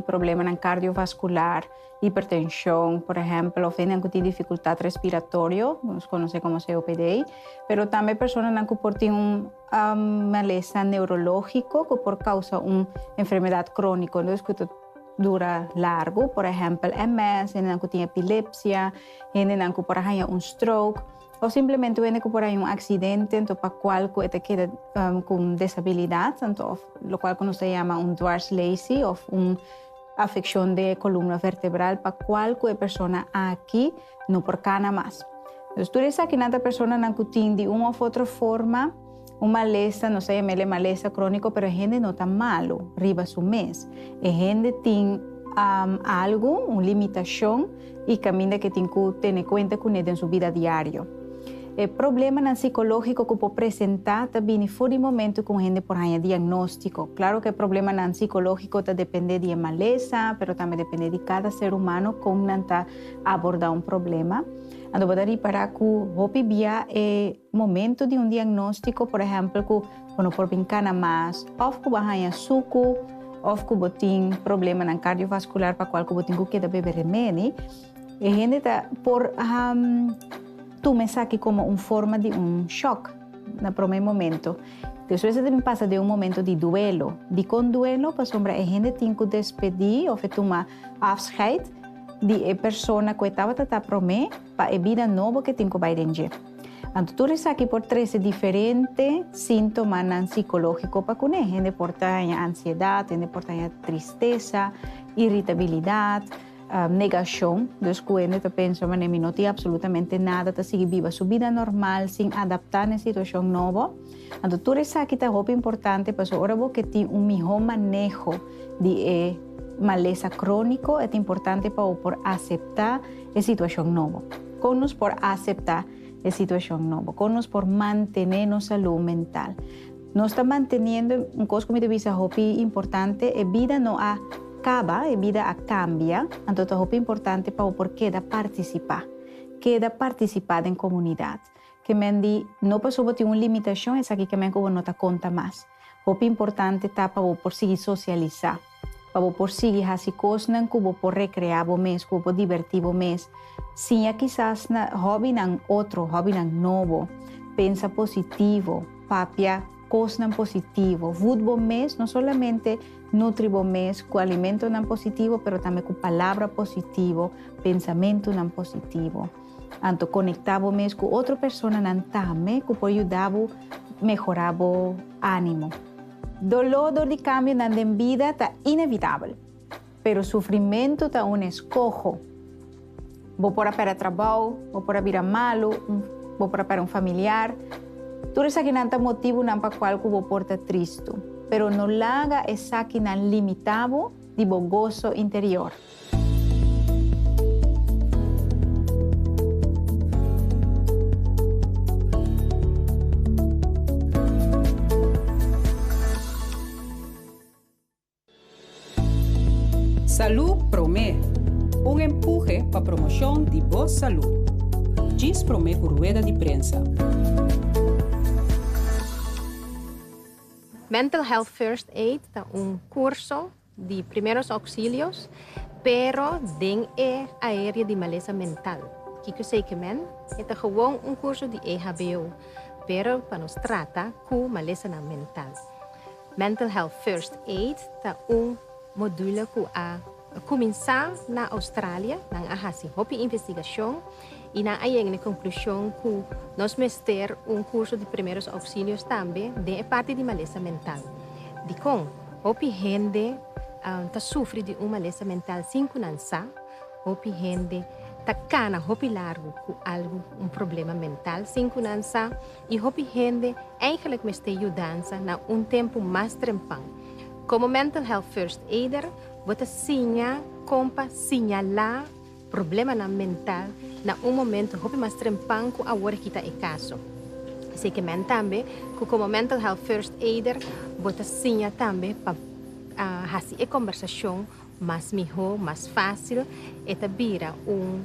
problemanan kardiovaskular, hipertenshon, por ehèmpel, òf hendenan ku tin difikultat respiratorio, ku nos konosé komo COPD, pero tambe personanan ku por tin un malesa neurológiko ku por kousa un enfermedat króniko dus ku ta dura largu, por ehèmpel, MS, hendenan ku tin epilepsia, hendenan ku por a haña un stroke. O simplemente wende ku por hay un aksidente anto pa kual ku e ta keda ku un desabilidat anto òf lokual ku nos ta yama un dwarslesi òf un afekshon de kolumna vertebral pa kual ku e persona aki no por kana mas. Tur esakinan ta personanan ku tin di un òf otro forma. Un malesa, nos ta yamel'e malesa króniko, pero e hende no ta malu riba su mes. E hende tin um algu, un limitashon i kaminda ke tin ku tene kuenta kuné den su bida diario. E problemanan sikológiko ku por presentá ta bini for di momentu ku un hende por haña diagnóstiko. Klaro ku e problemanan sikológiko ta dependé di e malesa, pero tambe dependé di kada ser humano kon nan ta abordá un problema. Anto bo ta ripará ku hopi bia e. Momento di un diagnóstiko, por ehèmpel ku bo no por bin kana mas òf ku bo haña suku òf ku bo tin problemanan kardiovaskular pa kual ku bo tin ku keda bebe remedi, e hende ta por tuma esaki komo un forma di un shòk na promé momento. Despues e ta bin pasa den un momento di duelo. Dikon duelo? Pasobra e hende tin ku despedí òf e tuma afscheid di e persona ku e tabata ta promé. pa e bida nobo ke tin ku bai den dje. Anto tur esaki por trese diferente síntomanan sikológiko pa kuné. Hende por ta haña ansiedat, hende por ta haña tristesa, iritabilidat, negashon. Dus ku hende ta pensa, manera mi no tin absolutamente nada, ta sigui biba su bida normal sin adaptá na e situashon nobo. Anto tur esaki ta hopi importante pasobra ora bo ke tin un mihó maneho di e malesa króniko e ta importante pa bo por aseptá e situashon nobo. Kon nos por aseptá e situashon nobo? Kon nos por mantené nos salú mental? Nos ta manteniendo un kos ku mi ta bisa hopi importante, e bida no a kaba, e bida a kambia, anto ta hopi importante pa bo por keda partisipá, keda partisipá den komunidat. Ke men di, No paso bo tin un limitashon, esaki ke men ku bo no ta konta mas. Hopi importante ta pa bo por sigui sosialisá, pa bo por sigui hasi kosnan ku bo por rekreá bo mes, ku bo por divertí bo mes. Siña kisas na hòbinan otro, hòbinan nobo. Pensa positivo, papia kosnan positivo. Vut bo mes, no solamente nutri bo mes ku alimentonan positivo, pero tambe ku palabra positivo, pensamentunan positivo. Anto konektá bo mes ku otro personanan tambe ku por yuda bo mehorá bo ánimo. Doló dor di kambionan den bida ta inevitabel, pero sufrimentu ta un eskoho. Bo por a pèrdè trabou, bo por a bira malu, bo por a pèrdè un familiar. Tur esakinan ta motibunan pa kual ku bo por ta tristu, pero no laga esakinan limitá bo di bo goso interior. Salú Promé, Un empuje pa promoshon di bo salú. Djis promé ku rueda di prensa. Mental Health First Aid ta un kurso. di primeros auxilios, pero den e aérea di malesa mental, Kiko Seke Men, e ta gewoon un kurso di EHBO, pero pa nos trata ku malesanan mental. Mental Health First Aid ta un module ku a kuminsá na Australia, nan a hasi hopi investigashon, y nan a yega na e conclusion cu nos mester un curso di primeros auxilios tambe den e parti di malesa mental. Dicon? Hopi hende ta sufri di un malesa mental sin cu nan sa, hopi hende ta cana hopi largo cu algo, un problema mental sin cu nan sa y hopi hende eigenlijk mester yudansa na un tempo mas trempan. Como Mental Health First Aider bo ta siña con pa siñala. problemanan mental na un momento hopi mas trempan ku awor e kita e kaso. Esei ke men tambe ku komo Mental Health First Aider bo ta siña tambe pa hasi e kombersashon mas mihó, mas fásil, e ta bira un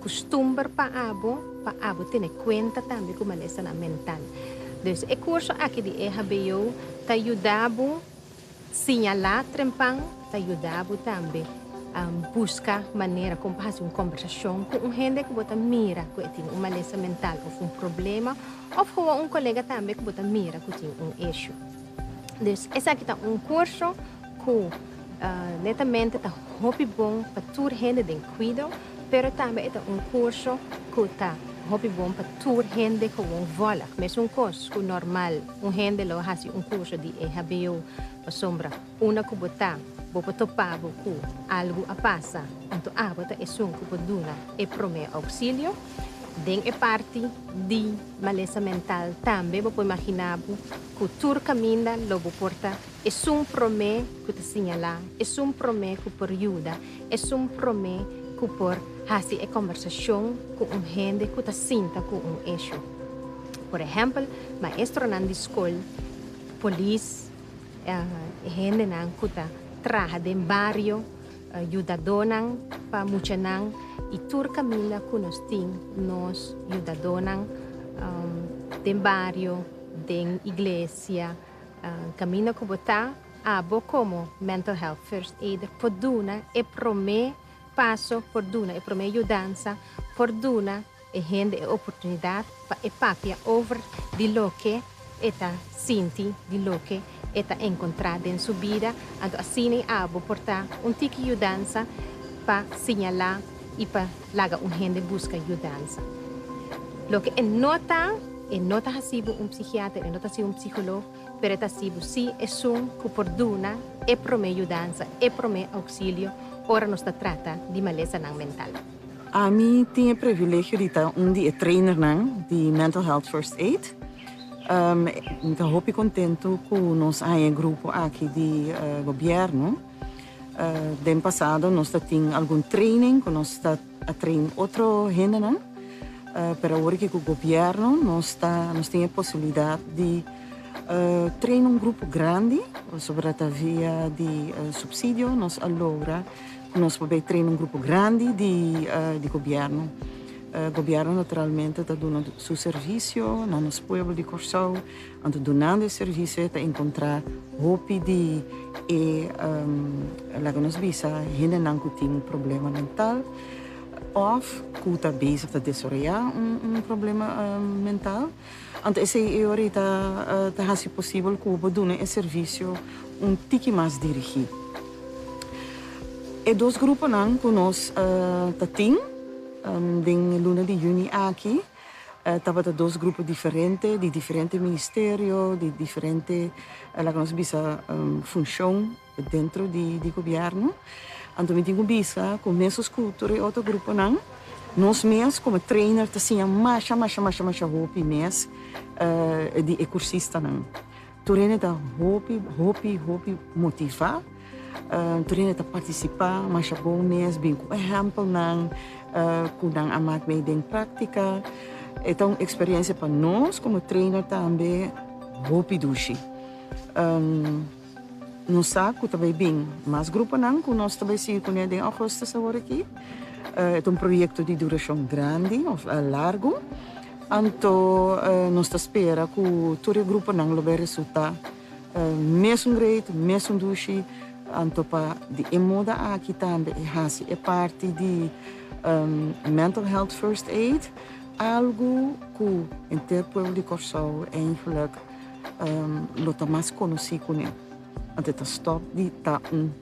kustumber pa abo, pa abo tene kuenta tambe ku malestanan mental. Dus e kurso aki di EHBO ta yuda bo Siñalá trempan ta yuda bo tambe buska manera kon pa hasi un kombersashon ku un hende ku bo ta mira ku e tin un malesa mental òf un problema òf kawa un kolega tambe ku bo ta mira ku tin un ishu. Dus esaki ta un kurso ku netamente ta hopi bon pa tur hende den Kwido. pero tambe e ta un kurso ku ta hopi bon pa tur hende gewoon vòlg. Mes un kos ku normal un hende lo hasi un kurso di e hbo pasobra unda ku bo ta bo por topa bo ku algu a pasa, anto abo ta esun ku por duna e promé ouksilio. Den e parti di malesa mental tambe bo por imaginá bo ku tur kaminda lo bo por ta. Esun promé ku ta siñalá, esun promé ku por yuda, esun promé ku por hasi e kòmbersashon ku un hende ku ta sinta ku un eshú. Por ehèmpel, maestronan di skol, polis, e hendenan ku ta traha den bario, yudadónan pa muchanan i tur kaminda ku nos tin nos yudadónan den bario, den iglesia, Camina cu bo ta, Abo como Mental Health First Aider por duna e prome paso, por duna e prome yudansa, por duna e hende e oportunidad pa e papia over di loke e ta sinti, di loke e ta encontra den su bida. Anto asina abo por ta un tiki yudansa pa siñala y pa laga un hende buska yudansa. Loke e no ta, e no ta hasi bo un psihiater, e no ta hasi un psiholog, pero e ta hasi bo si esun ku por duna e promé yudansa, e promé ouksilio ora nos ta trata di malesanan mental. Ami tin e privilegio di ta un di e trainernan di Mental Health First Aid. Mi ta hopi kontentu ku nos haña e grupo aki di gobièrnu. Den pasado nos ta tin algun training ku nos ta a train otro hendenan, pero awor aki ku gobièrnu nos ta nos tin e posibilidat di train un grupo grandi pasobra ta via di supsidio nos a logra ku nos por bai train un grupo grandi di di gobièrnu. Gobièrnu naturalmente ta duna su servisio na nos pueblo di Kòrsou. Anto dunando e servisio e ta encontra hopi di e laga nos bisa hendenan cu tin un problema mental of cu ta bezig ta desaroya un problema mental. Anto esey e ora ta ta haci posibel cu bo duna e servisio un tiki mas dirigi. E dos gruponan cu nos ta tin den e luna di juni aki. Tabata dos grupo diferente, di diferente ministerio, di diferente laga nos bisa funshon dentro di gobièrnu. Anto mi tin ku bisa ku mesun Sculptor i otro gruponan nos mes komo trainer ta siña masha masha masha masha hopi mes di e kursistanan. Tur hende ta hopi hopi hopi motivá. Tur hende ta partisipá masha bo mes bin ku ehèmpelnan ku nan a mak mei den práktika. E ta un eksperiensia pa nos komo trainer tambe hopi dushi. Nos sa ku ta bai bin mas gruponan ku nos ta bai sigui kuné den Ougustus awor aki. E ta un proyekto di durashon grandi òf largu. Anto nos ta spera ku tur e gruponan lo bai resultá mesun great, mesun dushi, anto pa di e moda aki tambe e hasi e parti di Mental Health First Aid, algu ku henter pueblo di Kòrsou eindelijk lo ta mas konosí kuné, anto e ta stòp di ta un.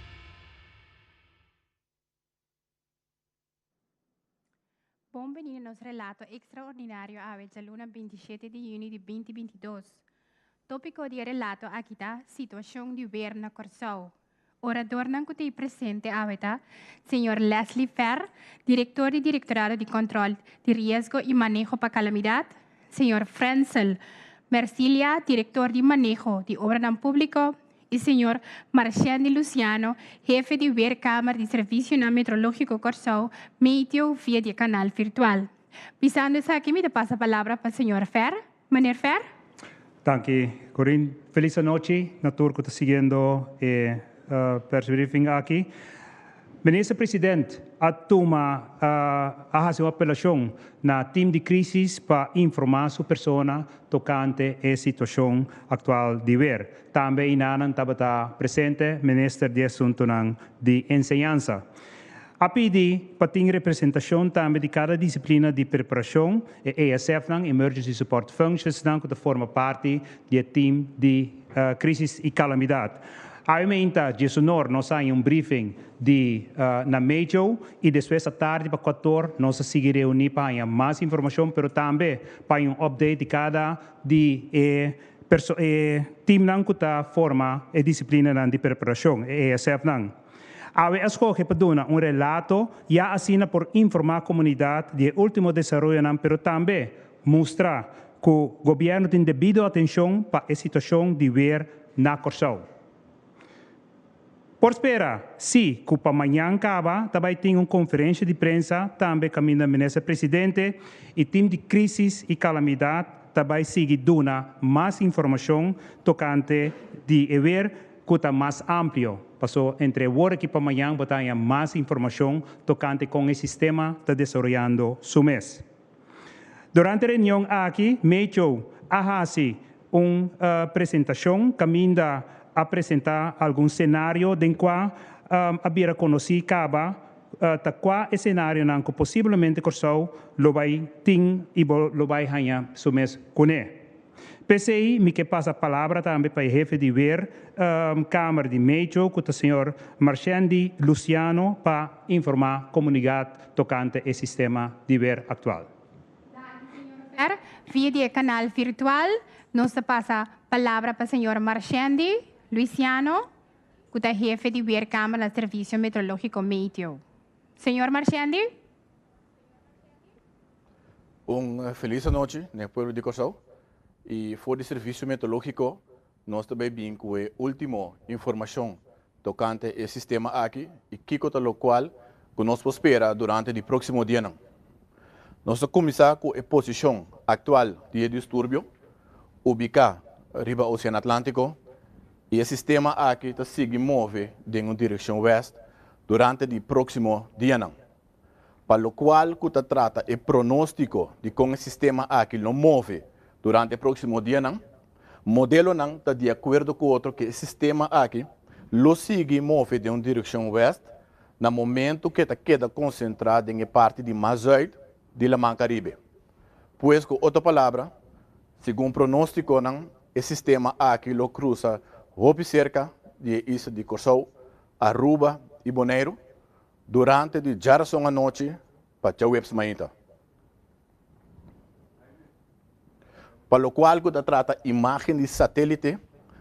Bon bini na nos relato ekstraordinario awe djaluna binti i shete di yüni di binti binti i dos. Tópiko di e relato aki ta Situashon di wer na Kòrsou. Oradornan ku ta i presente awe ta, Señor Leslie Ferr, Direktor di Direktorado di Kòntròl di Riesgo i Maneho pa Kalamidat, Señor Frensel Mercilia, Direktor di Maneho di Obranan Públiko, i señor Marchendi Luciano, hefe di Weerkamer di Servisionan Metrológiko Kòrsou, Meteo, via di e kanal virtual. Bisando esaki mi ta pasa palabra pa señor Ver. Meneer Ver. Danki, Corien. Felis anochi na tur ku ta siguiendo e persbriefing aki. Minister President a tuma a hasi un apelacion na Team di Crisis pa informa su persona tocante e situacion actual di weer. Tambe einanan tabata presente Minister di Asuntonan di Enseñansa. A pidi pa tin representacion tambe di cada disciplina di preparacion, e ESFnan, Emergency Support Functionsnan cu ta forma parti di e Team di Crisis y Calamidad. Awe mainta diesonor nos a haña un briefing di na medio y despues ta tardi pa kuator nos a sigui reuni pa haña mas informacion pero tambe pa haña un update di cada di e e teamnan cu ta forma e disciplinanan di preparacion, e ASFnan. Awe a scoge pa duna un relato ya asina por informa comunidad di e ultimo desaroyonan pero tambe Mustra cu Gobierno tin debido atencion pa e situacion di weer na Corsou. Por spera, si, cu pa mañan caba ta bay tin un conferencia di prensa tambe caminda Minister Presidente y team di Crisis y Calamidad ta bay sigui duna mas informacion tocante di e weer cu ta mas amplio. Paso entre awor aki pa mañan bo ta haña mas informacion tocante con e sistema ta desaroyando su mes. Durante e reunion aki Mecho a hasi un presentacion caminda a presenta algun scenario den cua a bira conoci caba ta cua e scenarionan cu posiblemente Curaçao lo bay tin y lo bay haya su mes cune. P'esei mi ke pasa palabra tambe pa e hefe di weer kamer di Mecho ku ta señor Marchendi Luciano pa informá komunidat tokante e sistema di weer aktual. Danki señor Ver, via di e kanal virtual nos ta pasa palabra pa señor Marchendi Luciano ku ta hefe di weer kamer na Servisio Metrológiko Meteo. Señor Marchendi. Un feliz anochi n'e pueblo di Kòrsou i for di Servisio Meteorológiko nos ta bai bin ku e último informashon tokante e sistema aki i kiko ta lokual ku nos por spera durante di próksimo dianan. Nos ta kuminsá ku e posishon aktual di e disturbio ubiká riba Oseano Atlántiko i e sistema aki ta sigui move den un direkshon wèst durante di próksimo dianan. pa lokual ku ta trata e pronóstiko di kon e sistema aki lo move durante e próksimo dianan, modelonan ta di akuerdo ku otro ku e sistema aki lo sigui move den un direkshon wèst na momentu ku e ta keda konsentrá den e parti di mas zùit di laman Karibe. Pues ku otro palabra, segun pronóstikonan e sistema aki lo krusa hopi serka di e isla di Kòrsou, Aruba i Boneiru, Durante di djarason anochi pa djaweps mainta. Pa lokual ku ta trata imágen di satélite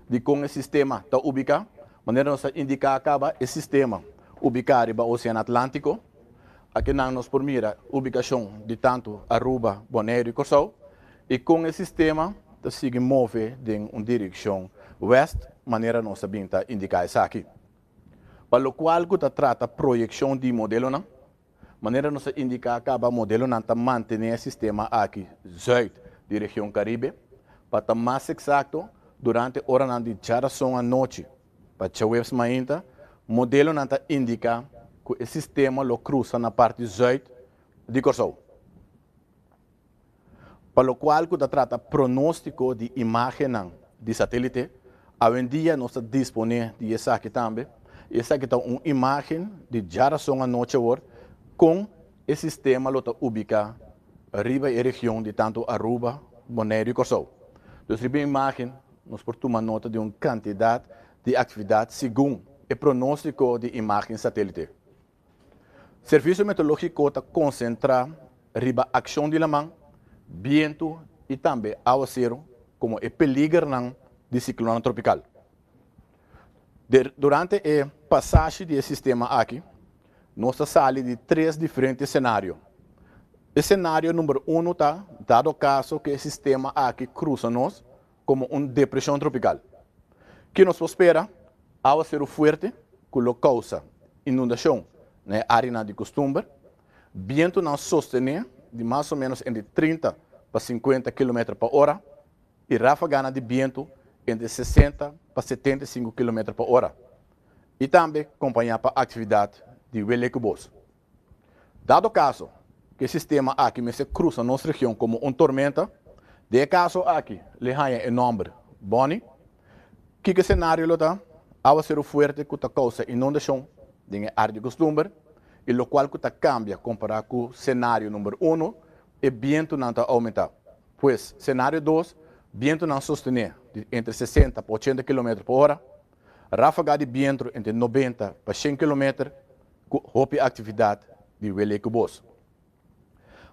di kon e sistema ta ubiká, manera nos a indiká kaba, e sistema ubiká riba Osean Atlántiko. Aki nan nos por mira ubikashon di tantu Aruba, Boneiru i Kòrsou i kon e sistema ta sigui move den un direkshon wèst, manera nos a bin ta indiká esaki. Pa lokual ku ta trata proyekshon di modelonan, manera nos a indiká kaba, modelonan ta mantené e sistema aki zùit di region Karibe. Pa ta mas eksakto, durante oranan di djarason anochi pa djaweps mainta, modelonan ta indiká ku e sistema lo krusa na parti zùit di Kòrsou. pa lokual ku ta trata pronóstiko di imágennan di satélite. Awendia nos ta disponé di esaki tambe, i esaki ta un imágen di djarason anochi awor kon e sistema lo ta ubiká riba e region di tantu Aruba, Boneiru i Kòrsou. Dus riba e imágen nos por tuma nota di un kantidat di aktividat segun e pronóstiko di imágen satélite. Servicio Meteorologico ta concentra riba accion di laman, bientu y tambe aguacero como e peligernan di ciclona tropical. Durante e pasashi di e sistema aki nos ta sali di tres diferente scenario. Scenario number uno ta dado caso cu e sistema aki crusa nos, komo un depreshon tropikal. Ke nos por spera? Awaseru fuerte ku lo kousa inundashon na e áreanan di kustumber, bientunan sostené di mas o ménos entre trinta pa sinkuenta kilometer pa ora i ráfaganan di bientu entre sesenta pa setenta i sinku kilometer pa ora, i tambe kompañá pa aktividat di welekubos. Dado kaso ku e sistema aki mester krusa nos region komo un tormenta, den e kaso aki le haña e nòmber Bonnie, kiko senario lo ta? Áwasero fuerte ku ta kousa inundashon den e área di kustumber i lokual ku ta kambia kompará ku senario number uno, e bientunan ta oumentá. Pues, senario dos, bientunan sostené di entre sesenta pa ochenta kilometer pa ora, ráfaga di bientro entre nobenta pa shen kilometer, ku hopi aktividat di wele ku bos.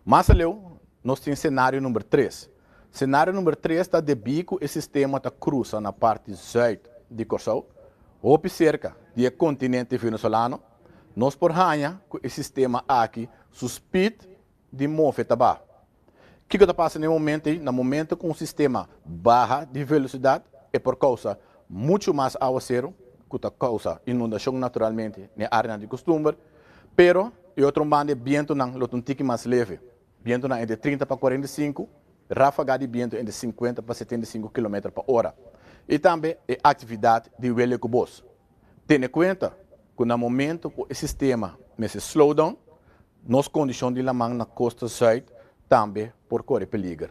Mas aleu nos tin senario number tres. Senario number tres ta debí ku e sistema ta krusa na parti zùit di Kòrsou, hopi serka di e kontinente Venesolano. Nos por haña ku e sistema aki su spid di move ta baha. Kiko ta pasa na e momento ei? Na momento ku un sistema baha di velosidat e por kousa muchu mas awaseru ku ta kousa inundashon naturalmente na e areanan di kustumber, pero e otro banda e bientunan lo ta un tiki mas leve, bientunan entre trinta pa kuarenta i sinku, ráfaga di bientu entre sinkuenta pa setenta i sinku kilometer pa ora. I tambe e aktividat di wele ku bos tene kuenta ku na momento ku e sistema mester slow down Nos kondishon di laman na kosta Zuid tambe por kore peliger.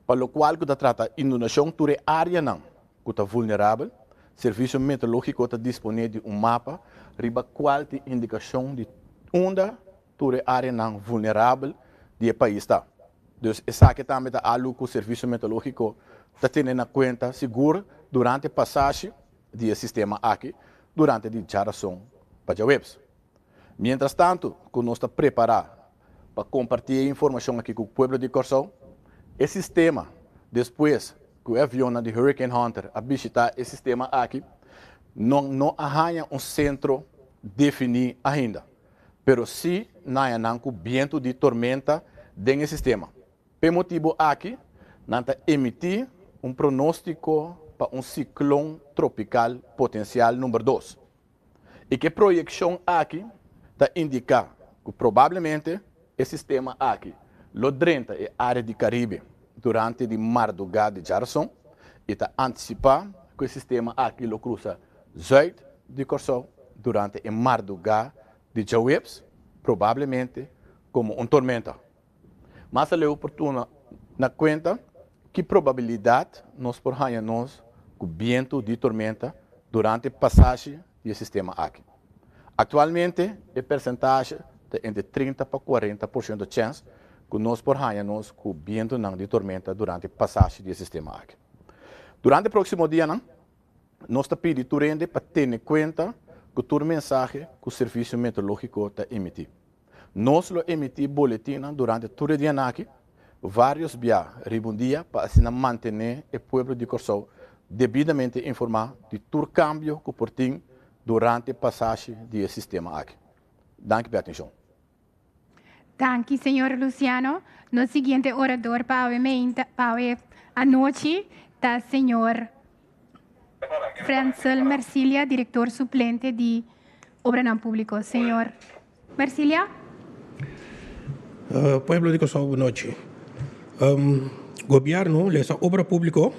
Pa lokual ku ta trata inundashon tur e áreanan ku ta vulnerabel, Servisio Meteorológiko ta disponé di un mapa riba kual tin indikashon di unda tur e áreanan vulnerabel di e pais ta. Dus esaki tambe ta alu ku Servisio Meteorológiko ta tene na kuenta sigur durante pasashi di e sistema aki durante di djarazon pa djaweps. Mientras tanto cu nos ta prepara pa comparti e informacion aki cu pueblo di Corsou, e sistema despues cu e avionnan di Hurricane Hunter a bishita e sistema aki nan no a haya un centro defini ainda, pero si nayanan cu bientu di tormenta den e sistema. P'e motibu aki nan ta emití un pronóstiko pa un siklon tropikal potensial number dos i k'e proyekshon aki ta indiká ku probablemente e sistema aki lo drenta e área di Karibe durante di mardugá di djarason i ta antisipá ku e sistema aki lo krusa Zuid di Kòrsou durante e mardugá di djaweps, probablemente komo un tormenta. Mas aleu por tuma na kuenta ki probabilidat nos por haña nos ku bientu di tormenta durante pasashi di e sistema aki. Aktualmente e persentashi ta entre trinta pa kuarenta porshento chèns ku nos por haña nos ku bientunan di tormenta durante pasashi di e sistema aki. Durante próksimo dianan nos ta pidi tur hende pa tene kuenta ku tur mensahe ku Servisio Meteorológiko ta imití. Nos lo emití boletinnan durante tur e dianan aki, vários bia riba un dia, pa asina mantené e pueblo di Kòrsou debidamente informá di tur kambio ku por tin durante pasashi di e sistema aki. Danki p'e atenshon. Danki señor Luciano. Nos siguiente orador pa awe meinta, pa awe anochi ta señor. Frensel Mercilia, Director Suplente di Obranan Publico. Señor Mercilia. Pueblo di Kòrsou, bu nochi. Gobièrnu, lesa Obra Públiko,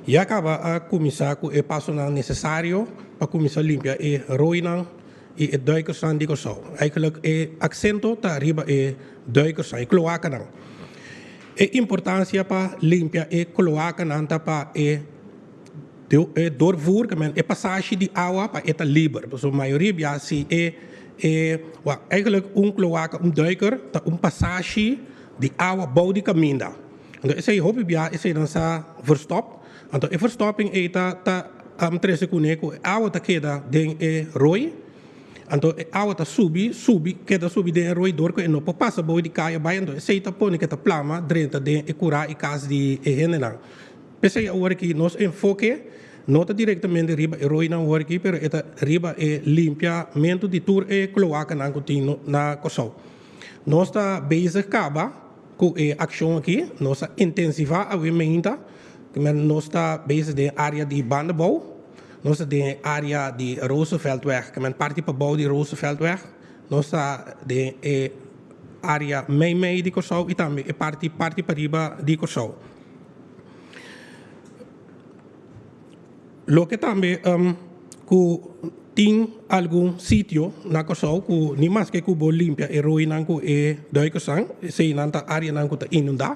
ya kaba a kuminsá ku e pasonan nesesario pa kuminsá limpia e roinan i e dùikersnan di Kòrsou. Eigelik e aksento ta riba e dùikersnan, e kloakanan. E importancia pa limpia e cloacanan ta pa e doorvoerkamen, e pasashi di awa pa e ta liber. Pasobra mayoria biaha si e e wa eigenlijk un cloaca, un duiker ta un pasashi di awa bou di caminda. Anto esei hopi biaha eseinan sa verstop. Anto e verstopping ei ta ta trece cune cu e awa ta keda den e rooi. Anto e awa ta subi, subi, keda subi den e roidor ku e no por pasa boe di kaya bai, anto esei ta pone ku e ta plama drenta den e kura i kas di e hendenan. P'esei awor aki nos enfoke no ta direktamente riba e roinan awor aki, pero e ta riba e limpiamentu di tur e kloakanan ku tin na Kòrsou. Nos ta bezig kaba. Ku e akshon aki nos ta intensivá awe meinta ku nos ta bezig den área di Bandebou. Nos ta den área di Rooseveltweg, ku men parti pabou di Rooseveltweg. Nos ta den e área meimei di Kòrsou i tambe e parti parti pariba di Kòrsou. Loke tambe ku tin algun sitio na Kòrsou ku nimaske ku bo limpia e roinan ku e duikersan eseinan ta áreanan ku ta inundá.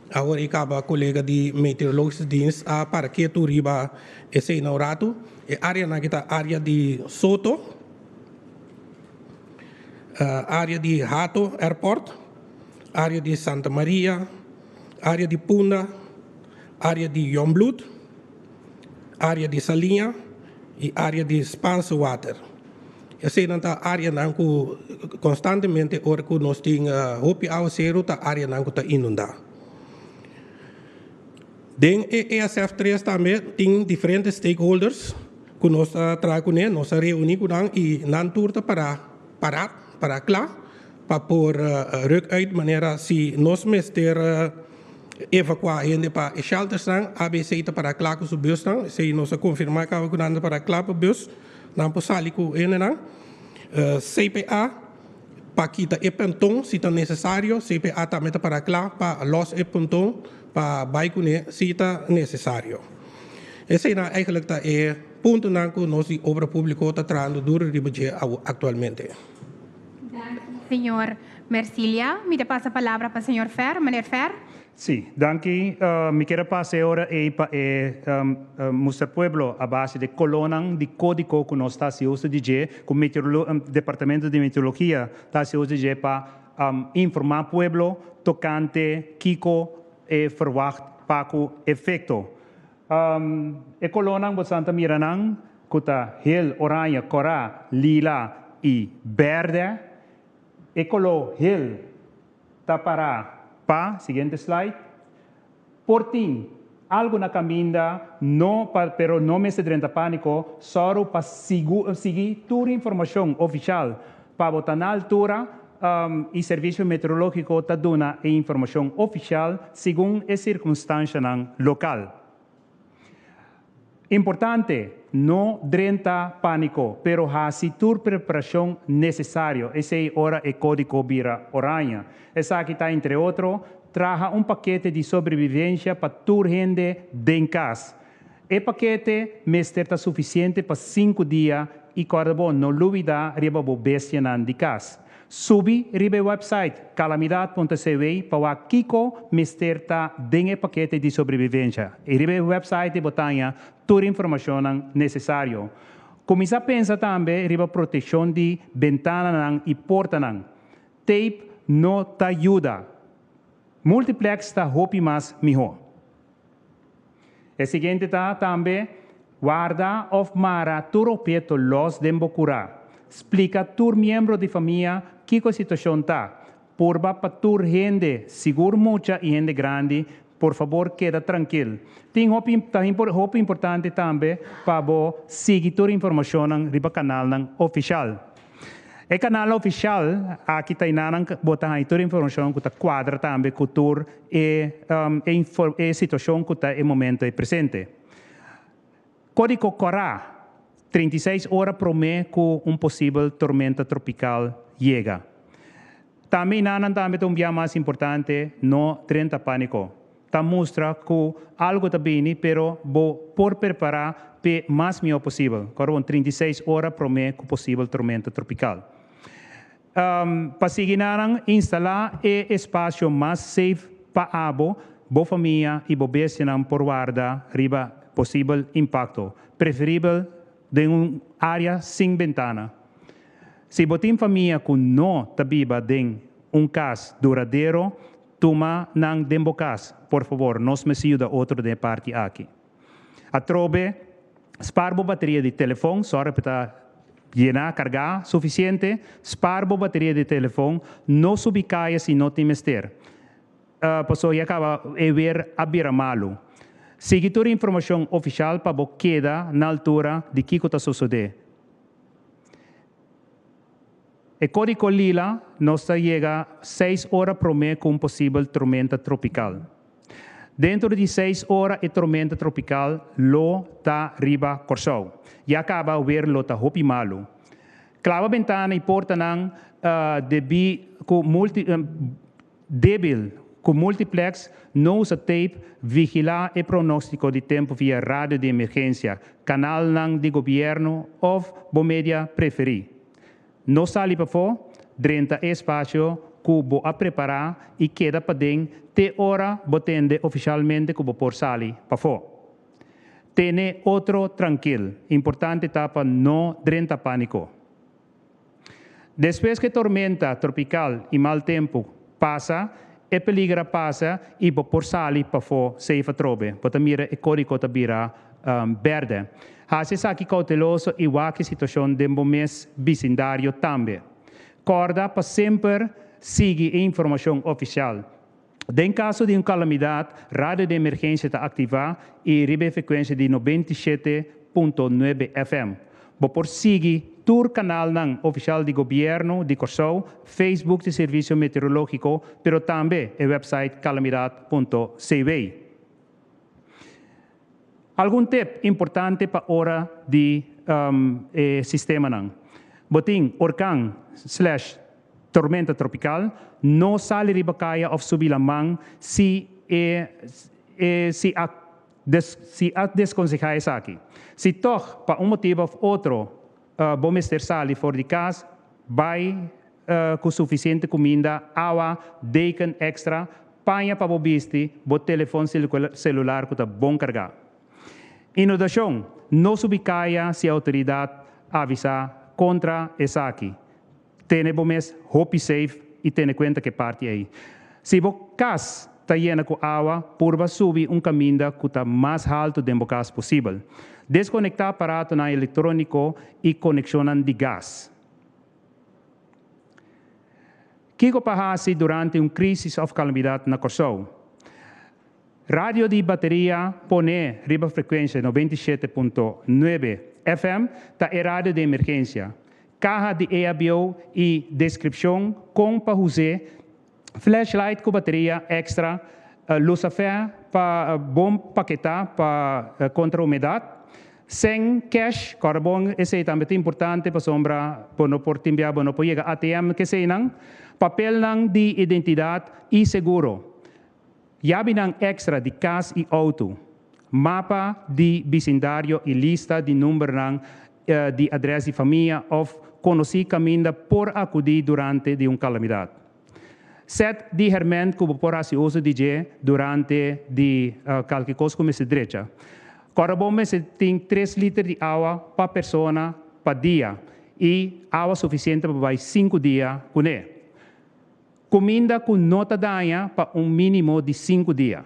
Awor i kaba kolega di Meteorologisch Dienst a para ketu riba eseinan un ratu. E áreanan ki ta área di Soto, área di Hato Airport, área di Santa Maria, área di Punda, Área di Jongbloed, área di Saliña i área di Spaanse Water. Esenan ta áreanan ku konstantemente ora ku nos tin hopi áwaseru ta áreanan ku ta inundá. Den e ESF tres tambe tin diferente stakeholders ku nos ta traha kuné, nos ta reuní ku nan i nan tur ta pará pará, pará kla. Pa por ruk uit manera si nos mester evakuá hende pa e sheltersnan, AB esei ta pará kla ku su busnan. Esei nos a konfirmá kaba ku nan ta pará kla pa bus. Nan por sali ku hendenan. CPA pa kita e punton si ta nesesario. CPA tambe ta pará kla pa lòs e punton pa bai kuné si ta nesesario. Eseinan eigentlik ta e puntonan ku nos di Obra Públiko ta trahando duru riba dje aktualmente. Señor Mercilia. Mi ta pasa palabra pa señor Fer, Meneer Fer. Sí, danki. Mi kier a pasa e ora ei pa e Muster Pueblo a base de colonnan di codico cu nos ta haci uso di dje, cu Departamento di Meteorologia ta haci uso di dje pa informa pueblo tocante kico e verwacht pa cu efecto. E kolonnan bosan ta mira nan ku ta hel oraña, kòrá, lila i bèrdè. E koló hel ta pará pa, siguiente slide, por tin algu na kaminda, no pa pero no mester drenta pániko, sòru pa sigui tur informashon ofishal pa bo ta na altura E Servicio Meteorologico ta duna e informacion oficial segun e circunstancianan local. Importante, No drenta panico, pero haci tur preparacion necesario, esey ora e codico bira oranje. Esaki ta entre otro, traha un paquete di sobrevivencia pa tur hende den cas. E pakete mester ta sufisiente pa sinku dia i kòrda bo no lubidá riba bo bestianan di kas. Subi riba e wèpsait Calamidad punto CW pa wak kiko mester ta den e pakete di sobrevivencia i riba e wèpsaiti bo taña tur e informashonnan nesesario. Kuminsá pensa tambe riba protekshon di bentananan i portanan. Teip no ta yuda. Multiplex ta hopi mas mihó. E siguiente ta tambe, Warda of mara tur opieto los den bo curá. Splica tur miembro di famia kico e situacion ta. Purba pa tur hende, sigur mucha y hende grandi, por fabor keda trankil. Tin hopi ta hopi importante tambe pa bo sigui tur informacionnan riba canalnan oficial. E kanal ofishal aki ta Ina nan bota haña tur e informashon ku ta kuadra tambe ku tur e e situashon ku ta e momento e presente. Kódiko Kòrá, treinta i seis ora promé ku un posibel tormenta tropikal yega. Tambe Ina nan tambe ta un biaha mas importante, no drenta pániko. Ta mustra cu algo ta bini, pero bo por perpará p'e mas mihó posibel. Kòrda bon, trinta i seis ora promé cu posibel tormenta tropical. Pa sigui nanan instalá e espacio mas safe pa abo, bo famia i bo bestianan por warda riba posibel impacto, preferibel den un área sin bentana. Si bo tin famia cu no ta biba den un cas duradero, Tuma nan den bo cas, por favor, nos mester yuda otro den e parti aki. Atrobe, spaar bo bateria di telefon, sòrg pa e ta yena, cargá, suficiente. Spaar bo bateria di telefon, no subi caya si no tin mester. Ah, paso ya caba, e weer a bira malu. Sigui tur e informacion oficial pa bo keda na altura di kico ta sosode. E Codico Lila nos ta yega seis ora promé ku un posibel tormenta tropikal. Dentro di seis ora e tormenta tropikal lo ta riba Kòrsou. Ya kaba wer lo ta hopi malu. Klaba bentana i portanan debí ku multi. Debil, Cu Multiplex no usa tape, vigila e pronostico di tempo via radio di emergencia, canalnan di gobierno of bo media preferi. No sali pafo, drenta e espacio cu bo a prepara y keda paden te ora bo tende oficialmente cu bo por sali pafo. Tene otro trankil, importante ta pa no drenta panico. Despues ku e tormenta tropikal i mal tempu pasa, e peliger a pasa i bo por sali pafó seif atrobe. Bo ta mira e kódigo ta bira bèrdè. Hasi esaki kouteloso i wak e situashon den bo mes bisindario tambe. Kòrda pa semper sigui e informashon ofisial. Den kaso di un kalamidat, Radio di Emergensia ta aktivá i riba e frekuensia di nobenta i shete punto nuebe FM. Bo por sigui tur kanalnan ofisial di Gobièrnu di Kòrsou, Facebook di Servisio Meteorológiko, pero tambe e wèpsait kalamidat punto CW. Algun tip importante pa ora di e sistemanan. Bo tin orkan slash tormenta tropical, no sali riba kaya of subi laman si e e si a si a deskonseha esaki. Si tog pa un motibo of otro. Bo mester sali for di cas, bai cu suficiente cuminda, awa, deken extra, paña pa bo bisti, bo telefon celular cu ta bon carga. Inundacion, No subi caya si autoridad avisa contra esaki, Tene bo mes hopi safe y tene cuenta cu e parti ey. Si bo cas ta yena cu awa, purba subi un caminda cu ta mas halto den bo cas posibel. Desconecta aparatonan electronico y coneccionnan di gas. Kico pa haci durante un crisis of calamidad na Corsou? Radio di bateria pone riba frecuencia noventa i shete punto nuebe FM ta e radio di emergencia. Kaha di EHBO y descripcion con pa huse flashlight cu bateria extra luz a fe pa bon paketa pa contra humedad. Sen cash, kòrd'a bon esey tambe ta importante pasobra bo no por timbia, bo no por yega ATM, keseynan. Papelnan di identidad y seguro. Yabinan èkstra di kas i outo, mapa di bisindario i lista di numbernan di adrès di famia òf konosí kaminda por akudí durante di un kalamidat. Sèt di hèrmènt ku bo por hasi uso di dje durante di kalki kos ku mester drecha. Kòrda bo mester tin tres liter di awa pa persona pa dia i awa sufisiente pa bai sinku dia kuné. Kuminda ku no ta daña pa un mínimo di sinku dia.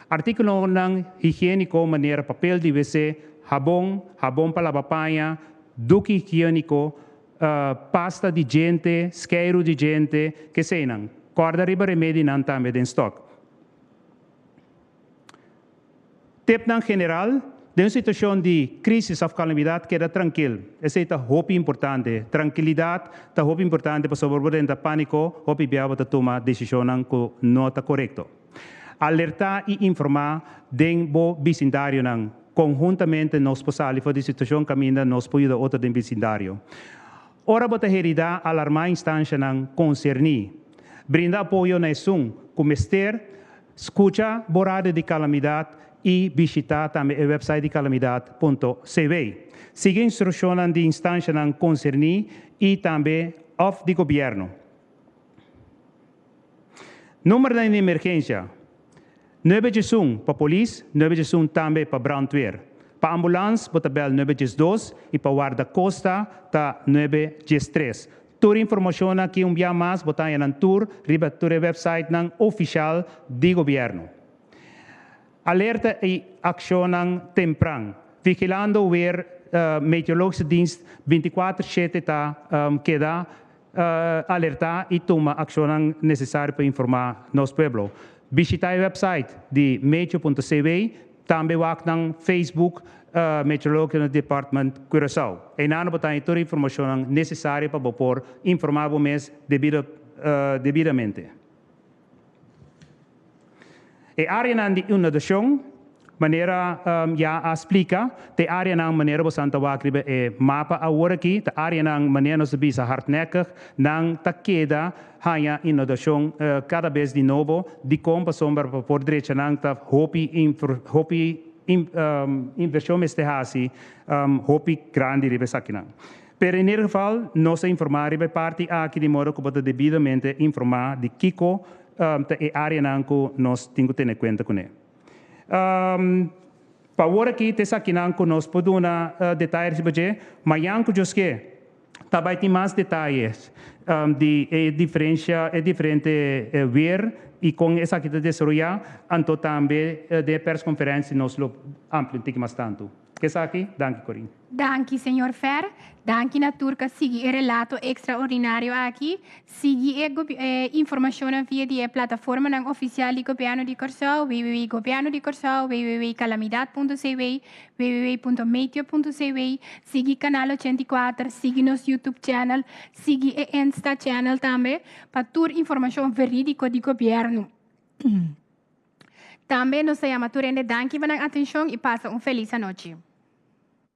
Artíkulonan higiéniko manera papel di wc, habon, habon pa laba paña, duki higiéniko, pasta di djente, skeiru di djente, keseinan. Kòrda riba remedinan tambe den stòk. Tipnan general, Den un situashon di krísis òf kalamidat keda trankil. Esei ta hopi importante. Trankilidat ta hopi importante pasobra bo renta pániko hopi bia bo ta tuma desishonnan ku no ta korekto. Alertá i informá den bo bisindarionan. Konhuntamente nos por sali for di situashon kaminda nos por yuda otro den bisindario. Ora bo ta heridá, alarmá e instanshanan konserní. Brinda apoyo na esun ku mester. Scucha Borade di Calamidad y bishita tambe e website di calamidad.cw. Sigui instruccionnan di instancianan concerni y tambe of di Gobierno. Numbernan di emergencia, Nuebe djesun pa polis, nuebe djesun tambe pa brandweer. Pa ambulance bo ta bel nuebe djesdos y pa warda costa ta nuebe djestres. Tur informashonnan aki un bia mas bo ta haña nan tur riba e tur e wèpsaitnan ofishal di gobièrnu. Alerta i akshonnan tempran, Vigilando weer Meteorologische Dienst binti kuater shete ta keda alertá i tuma akshonnan nesesario pa informá nos pueblo. Bishitá e wèpsait di meteo punto CW Tambe wak nan Facebook Meteorological Department Curaçao. Einan lo bo ta haña tur informacionnan necesario pa bo por informa bo mes debidamente. E areanan di inundacion, manera ya a splica, ta e areanan manera bo san ta wak riba e mapa aworakí, ta areanan manera nos ta bisa hardnekkig, nan ta keda haña inodashon kada bes di nobo dikon pasobra pa papia por drecha nan ta hopi hopi invershon mester hasi hopi grandi riba esakinan. Pero in ieder geval nos a informa riba e parti aki di modo ku bo ta debidamente informa di kiko ta e areanan ku nos tin ku tene kuenta kuné. Pawor aki ta esakinan ku nos por duna detaye riba dje mañan ku djosk'é. ta bai tin mas detayes di e diferensha, e diferente weer i kon esaki ta desaroyá, anto tambe den e perskonferensi nos lo amplia un tiki mas tantu. Ke esaki. Danki, Corine. Danki, señor Fer. Danki na tur k'a sigui e relato ekstraordinario aki. Sigui e informashonnan via di e plataformanan ofisial di Gobièrnu di Kòrsou, www.gobièrnudicorsou, www.calamidad.cw, www.meteo.cw, sigui Kanal ochenta i kuater, sigui nos YouTube channel, sigui e Insta channel tambe pa tur informashon verídiko di Gobièrnu. Tambe nos ta yama tur hende danki pa nan atenshon i pasa un felis anochi.